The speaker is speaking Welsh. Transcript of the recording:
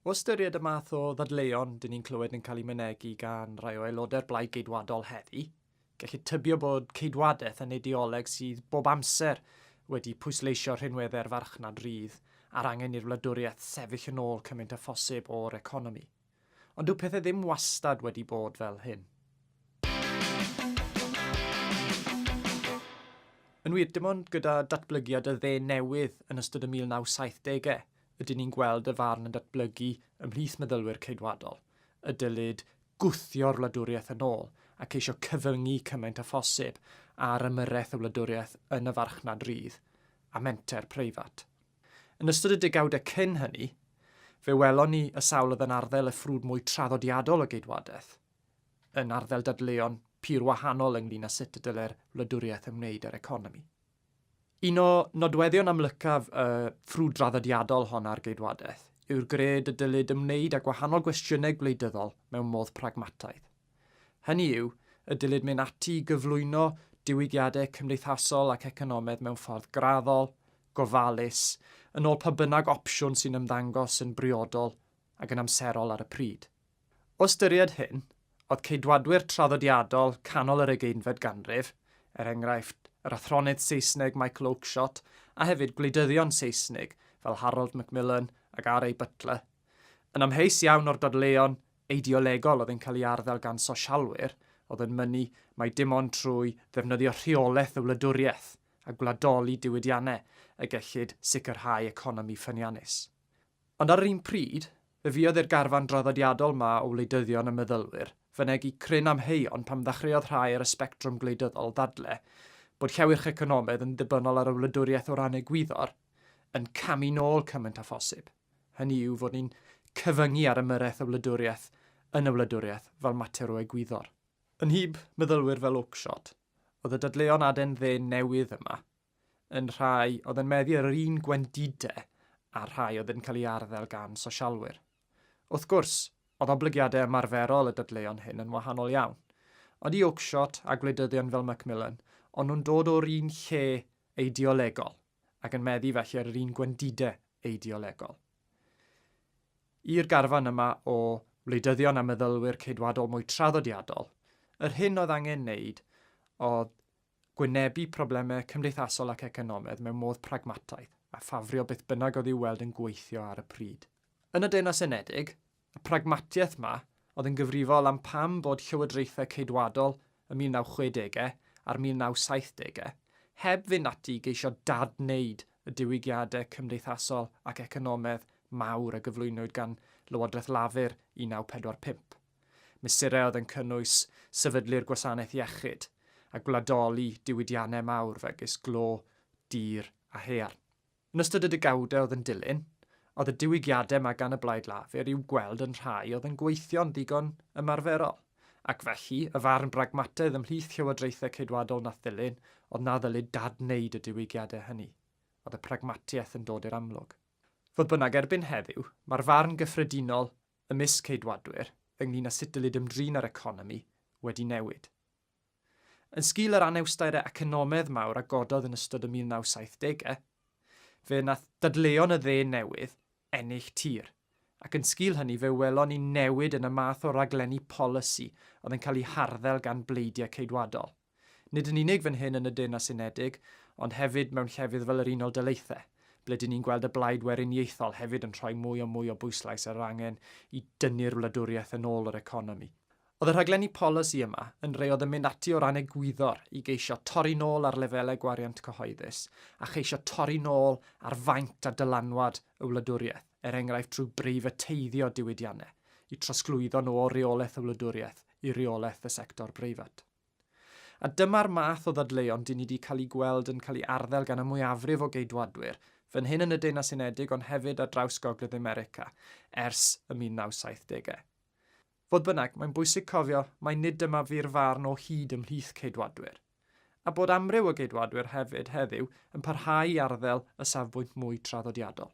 O ystyried y math o ddadleuon dyn ni'n clywed yn cael eu mynegi gan rai o aelodau'r Blaid Geidwadol heddi, gellid tybio bod ceidwadaeth yn ideoleg sydd bob amser wedi pwysleisio rhinweddau'r farchnad rydd a'r angen i'r wladwriaeth sefyll yn ôl cymaint â phosib o'r economi. Ond dyw pethau ddim wastad wedi bod fel hyn. Yn wir, dim ond gyda datblygiad y dde newydd yn ystod y 1970au Rydyn ni'n gweld y farn yn datblygu ymhlith meddylwyr Ceidwadol y dylid gwthio'r wladwriaeth yn ôl a ceisio cyfyngu cymaint â phosib ar ymyrraeth y wladwriaeth yn y farchnad rydd a menter preifat. Yn ystod y degawdau cyn hynny, fe welon ni y sawl oedd yn arddel y ffrwd mwy traddodiadol o geidwadaeth, yn arddel dadleuon pur wahanol ynglŷn â sut y dylai'r wladwriaeth ymwneud â'r economi. Un o nodweddion amlycaf y ffrwd draddodiadol hon ar geidwadaeth yw'r gred y dylid ymwneud â gwahanol gwestiynau gwleidyddol mewn modd pragmataidd. Hynny yw, y dylid mynd ati i gyflwyno diwygiadau cymdeithasol ac economaidd mewn ffordd graddol, gofalus, yn ôl pa bynnag opsiwn sy'n ymddangos yn briodol ac yn amserol ar y pryd. O ystyried hyn, oedd Ceidwadwyr traddodiadol canol yr ugeinfed ganrif, er enghraifft, yr athronydd Saesneg Michael Oakeshott a hefyd gwleidyddion Seisnig fel Harold Macmillan ac RA. Butler, yn amheus iawn o'r dadleuon eideolegol oedd yn cael ei arddel gan sosialwyr oedd yn mynnu mai dim ond trwy ddefnyddio rheolaeth y wladwriaeth a gwladoli diwydiannau y gellid sicrhau economi ffyniannus. Ond ar yr un pryd, fe fuodd i'r garfan draddodiadol 'ma o wleidyddion a meddylwyr fynegi cryn amheuon pan ddechreuodd rhai ar y sbectrwm gwleidyddol ddadle bod llewyrch economaidd yn ddibynnol ar y wladwriaeth o ran egwyddor yn camu nôl cymaint â phosib, hynny yw fod ni'n cyfyngu ar ymyrraeth y wladwriaeth yn y wladwriaeth fel mater o egwyddor. Yn nhyb meddylwyr fel Oakeshott oedd y dadleuon aden-dde newydd yma. yn rhai oedd yn meddu ar yr un gwendidau a'r rhai oedd yn cael ei arddel gan sosialwyr. Wrth gwrs, oedd oblygiadau ymarferol y dadleuon hyn yn wahanol iawn. Odi Oakeshott a gwleidyddion fel Macmillan, ond nhw'n dod o'r un lle eideolegol, ac yn meddu felly ar yr un gwendidau eideolegol. I'r garfan yma o wleidyddion a meddylwyr ceidwadol mwy traddodiadol, yr hyn oedd angen wneud oedd gwynebu problemau cymdeithasol ac economaidd mewn modd pragmataidd, a ffafrio beth bynnag oedd i'w weld yn gweithio ar y pryd. Yn y Deyrnas Unedig, y pragmatiaeth yma oedd yn gyfrifol am pam bod llywodraethau Ceidwadol y 1960au a'r 1970au heb fynd ati i geisio dad-wneud y diwygiadau cymdeithasol ac economaidd mawr a gyflwynwyd gan Lywodraeth Lafur 1945. Mesurau oedd yn cynnwys sefydlu'r gwasanaeth iechyd a gwladoli diwydiannau mawr megis glo, dir a haearn. Yn ystod y degawdau oedd yn dilyn, oedd y diwygiadau yma gan y Blaid Lafur i'w gweld yn rhai oedd yn gweithio'n ddigon ymarferol, ac felly, y farn bragmataidd ymhlith llywodraethau Ceidwadol nath ddilyn oedd na ddylid dad-wneud y diwygiadau hynny. Oedd y pragmatiaeth yn dod i'r amlwg. Fodd bynnag, erbyn heddiw, mae'r farn gyffredinol ymysg Ceidwadwyr ynglŷn â sut dylid ymdrin â'r economi wedi newid. Yn sgil yr anawsterau economaidd mawr a gododd yn ystod y 1970au, fe wnaeth dadleuon y dde newydd ennill tir, ac yn sgil hynny fe welon ni newid yn y math o raglenni polisi oedd yn cael eu harddel gan bleidiau Ceidwadol. Nid yn unig fan hyn yn y Deyrnas Unedig, ond hefyd mewn llefydd fel yr Unol Daleithiau, ble dŷn ni'n gweld y blaid weriniaethol hefyd yn rhoi mwy a mwy o bwyslais ar yr angen i dynnu'r wladwriaeth yn ôl yr economi. Oedd y rhaglenni polisi yma yn rei oedd yn mynd ati o ran egwyddor i geisio torri nôl ar lefelau gwariant cyhoeddus a cheisio torri nôl ar faint a dylanwad y wladwriaeth, er enghraifft drwy breifateiddio diwydiannau, i trosglwyddo nhw o reolaeth y wladwriaeth i reolaeth y sector breifat. A dyma'r math o ddadleuon dyn ni wedi cael eu gweld yn cael eu arddel gan y mwyafrif o Geidwadwyr, fan hyn yn y Deyrnas Unedig ond hefyd ar draws Gogledd America, ers y 1970au. Fodd bynnag, mae'n bwysig cofio mai nid dyma fu'r farn o hyd ymhlith Ceidwadwyr. A bod amryw o Geidwadwyr hefyd heddiw yn parhau i arddel y safbwynt mwy traddodiadol.